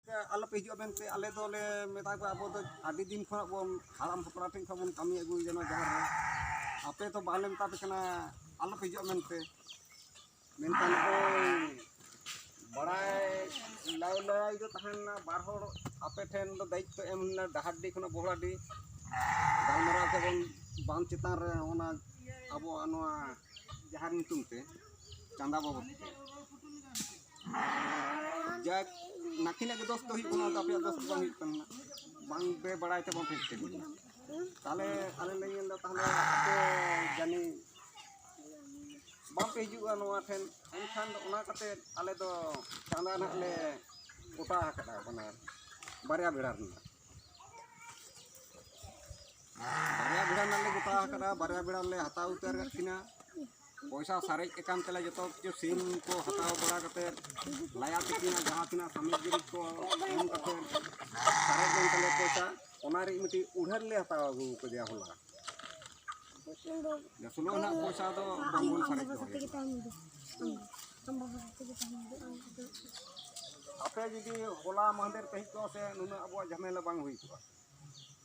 ᱟᱞᱚᱯᱮ ᱦᱤᱡᱩᱜᱼᱟ ᱢᱮᱱᱛᱮ ᱟᱞᱮ ᱫᱚᱞᱮ ᱢᱮᱛᱟ ᱠᱚᱣᱟ ᱟᱵᱚ ᱫᱚ ᱟᱹᱰᱤ ᱫᱤᱱ ᱠᱷᱚᱱᱟᱜ ᱵᱚᱱ ᱦᱟᱲᱟᱢ ᱦᱟᱯᱲᱟᱢ ᱴᱷᱮᱱ ᱠᱷᱚᱱ ᱵᱚᱱ ᱠᱟᱹᱢᱤ ᱟᱹᱜᱩᱭ ᱡᱮᱱᱚ ᱡᱟᱦᱮᱨ ᱨᱮ ᱟᱯᱮ ᱫᱚ ᱵᱟᱞᱮ ᱢᱮᱛᱟ ᱯᱮ ᱠᱟᱱᱟ ᱟᱞᱚᱯᱮ ᱦᱤᱡᱩᱜᱼᱟ ᱢᱮᱱᱛᱮ ᱢᱮᱱᱠᱷᱟᱱ ᱵᱟᱲᱟᱭ ᱞᱟᱭ ᱞᱟᱭ ᱫᱚ ᱛᱟᱦᱮᱱᱟ ᱵᱟᱨ ᱦᱚᱲ ᱟᱯᱮ ᱴᱷᱮᱱ ᱫᱚ ᱫᱟᱭᱤᱛᱛᱚ ᱮᱢ ᱞᱮᱱᱟ ᱰᱟᱦᱟᱨᱰᱤ ᱠᱷᱚᱱᱟᱜ ᱵᱚᱦᱲᱟᱰᱤ ᱜᱟᱞᱢᱟᱨᱟᱣ ᱛᱮᱵᱚᱱ ᱵᱟᱸᱫ ᱪᱮᱛᱟᱱ ᱨᱮ ᱚᱱᱟ ᱟᱵᱚᱣᱟᱜ ᱱᱚᱣᱟ ᱡᱟᱦᱮᱨ ᱧᱩᱛᱩᱢ ᱛᱮ ᱪᱟᱸᱫᱟ ᱵᱟᱵᱚᱫ ᱛᱮ ᱡᱟᱠ ᱱᱟᱠᱤᱱᱟᱜ ᱜᱮ ᱫᱚᱥ ᱫᱚ ᱦᱩᱭᱩᱜ ᱠᱟᱱᱟ ᱟᱯᱮᱭᱟᱜ ᱫᱚᱥ ᱫᱚ ᱵᱟᱝ ᱦᱩᱭᱩᱜ ᱠᱟᱱᱟ ᱵᱟᱝ ᱯᱮ ᱵᱟᱲᱟᱭ ᱛᱮ ᱵᱟᱝ ᱯᱮ ᱠᱟᱹᱢᱤᱭᱟ ᱛᱟᱦᱚᱞᱮ ᱟᱞᱮ ᱞᱮ ᱧᱮᱞ ᱮᱫᱟ ᱛᱟᱦᱚᱞᱮ ᱟᱯᱮ ᱡᱟᱹᱱᱤ ᱵᱟᱝ ᱯᱮ ᱦᱤᱡᱩᱜᱼᱟ ᱱᱚᱣᱟ ᱴᱷᱮᱱ ᱮᱱᱠᱷᱟᱱ ᱫᱚ ᱚᱱᱟ ᱠᱟᱛᱮ ᱟᱞᱮ ᱫᱚ ᱪᱟᱸᱫᱟ ᱱᱟᱦᱟᱜ ᱞᱮ ᱜᱚᱴᱟ ᱟᱠᱟᱫᱟ ᱚᱱᱟ ᱵᱟᱨᱭᱟ ᱵᱮᱲᱟ ᱨᱮᱱᱟᱜ ᱵᱟᱨᱭᱟ ᱵᱮᱲᱟ ᱨᱮᱱᱟᱜ ᱞᱮ ᱜᱚᱴᱟ ᱟᱠᱟᱫᱟ ᱵᱟᱨᱭᱟ ᱵᱮᱲᱟ ᱞᱮ ᱦᱟᱛᱟᱣ ᱩᱛᱟᱹᱨ ᱟᱠᱟᱫ ᱠᱤᱱᱟ ᱯᱚᱭᱥᱟ ᱥᱟᱨᱮᱡ ᱟᱠᱟᱱ ᱛᱮᱞᱮ ᱡᱚᱛᱚ ᱠᱤᱪᱷᱩ ᱥᱤᱢ ᱠᱚ ᱦᱟᱛᱟᱣ ᱵᱟᱲᱟ ᱠᱟᱛᱮ ᱞᱟᱭᱟ ᱛᱤᱠᱤᱱᱟᱜ ᱡᱟᱦᱟᱸ ᱛᱤᱱᱟᱹᱜ ᱥᱟᱢᱚᱜᱽᱨᱤ ᱠᱚ ᱮᱢ ᱠᱟᱛᱮ ᱥᱟᱨᱮᱡ ᱞᱮᱱ ᱛᱟᱞᱮ ᱯᱚᱭᱥᱟ ᱚᱱᱟ ᱨᱮ ᱢᱤᱫᱴᱤᱡ ᱩᱰᱷᱟᱹᱨ ᱞᱮ ᱦᱟᱛᱟᱣ ᱟᱹᱜᱩ ᱠᱮᱫᱮᱭᱟ ᱦᱚᱞᱟ ᱥᱩᱞᱚ ᱨᱮᱱᱟᱜ ᱯᱚᱭᱥᱟ ᱫᱚ ᱵᱟᱝᱵᱚᱱ ᱥᱟᱨᱮᱡ ᱫᱚᱦᱚᱭᱟ ᱟᱯᱮ ᱡᱩᱫᱤ ᱦᱚᱞᱟ ᱢᱟᱦᱫᱮᱨ ᱯᱮ ᱦᱮᱡ ᱠᱚᱜᱼᱟ ᱥᱮ ᱱᱩᱱᱟᱹᱜ ᱟᱵᱚᱣᱟᱜ ᱡᱷᱟᱢᱮᱞᱟ ᱵᱟᱝ ᱦᱩᱭ ᱠᱚᱜᱼᱟ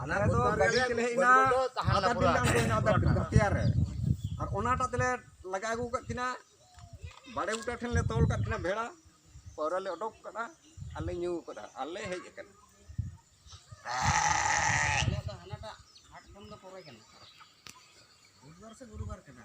ᱟᱞᱮ ᱫᱚ ᱜᱟᱹᱰᱤ ᱛᱮᱞᱮ ᱦᱮᱡ ᱮᱱᱟ ᱟᱫᱷᱟ ᱫᱤᱱ ᱞᱮ ᱟᱬᱜᱚᱭᱮᱱᱟ ᱟᱫᱷᱟ ᱫᱤᱱ ᱜᱟᱛᱤᱭᱟ ᱨᱮ ᱟᱨ ᱚᱱᱟᱴᱟᱜ ᱛᱮᱞᱮ ᱞᱟᱜᱟ ᱟᱹᱜᱩ ᱠᱟᱫ ᱠᱤᱱᱟ ᱵᱟᱲᱮ ᱵᱩᱴᱟᱹ ᱴᱷᱮᱱ ᱞᱮ ᱛᱚᱞ ᱠᱟᱫ ᱠᱤᱱᱟ ᱵᱷᱮᱲᱟ ᱯᱟᱹᱣᱨᱟᱹ ᱞᱮ ᱚᱰᱚᱠ ᱠᱟᱫᱟ ᱟᱨ ᱞᱮ ᱧᱩ ᱠᱟᱫᱟ ᱟᱨ ᱞᱮ ᱦᱮᱡ ᱟᱠᱟᱱᱟ ᱟᱞᱮᱭᱟᱜ ᱫᱚ ᱦᱟᱱᱟᱴᱟᱜ ᱦᱟᱴ ᱠᱷᱚᱱ ᱫᱚ ᱯᱚᱨᱮ ᱠᱟᱱᱟ ᱵᱩᱫᱷᱵᱟᱨ ᱥᱮ ᱜᱩᱨᱩᱵᱟᱨ ᱠᱟᱱᱟ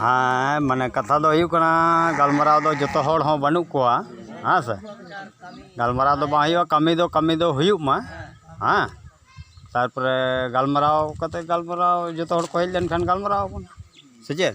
ᱦᱮᱸ ᱢᱟᱱᱮ ᱠᱟᱛᱷᱟ ᱫᱚ ᱦᱩᱭᱩᱜ ᱠᱟᱱᱟ ᱜᱟᱞᱢᱟᱨᱟᱣ ᱫᱚ ᱡᱚᱛᱚ ᱦᱚᱲ ᱦᱚᱸ ᱵᱟᱹᱱᱩᱜ ᱠᱚᱣᱟ ᱦᱮᱸ ᱥᱮ ᱜᱟᱞᱢᱟᱨᱟᱣ ᱫᱚ ᱵᱟᱝ ᱦᱩᱭᱩᱜᱼᱟ ᱠᱟᱹᱢᱤ ᱫᱚ ᱠᱟᱹᱢᱤ ᱫᱚ ᱦᱩᱭᱩᱜ ᱢᱟ ᱦᱮᱸ ᱛᱟᱨᱯᱚᱨᱮ ᱜᱟᱞᱢᱟᱨᱟᱣ ᱠᱟᱛᱮᱫ ᱜᱟᱞᱢᱟᱨᱟᱣ ᱡᱚᱛᱚ ᱦᱚᱲ ᱠᱚ ᱦᱮᱡ ᱞᱮᱱᱠᱷᱟᱱ ᱜᱟᱞᱢᱟᱨᱟᱣ ᱟᱵᱚᱱ ᱥᱮ ᱪᱮᱫ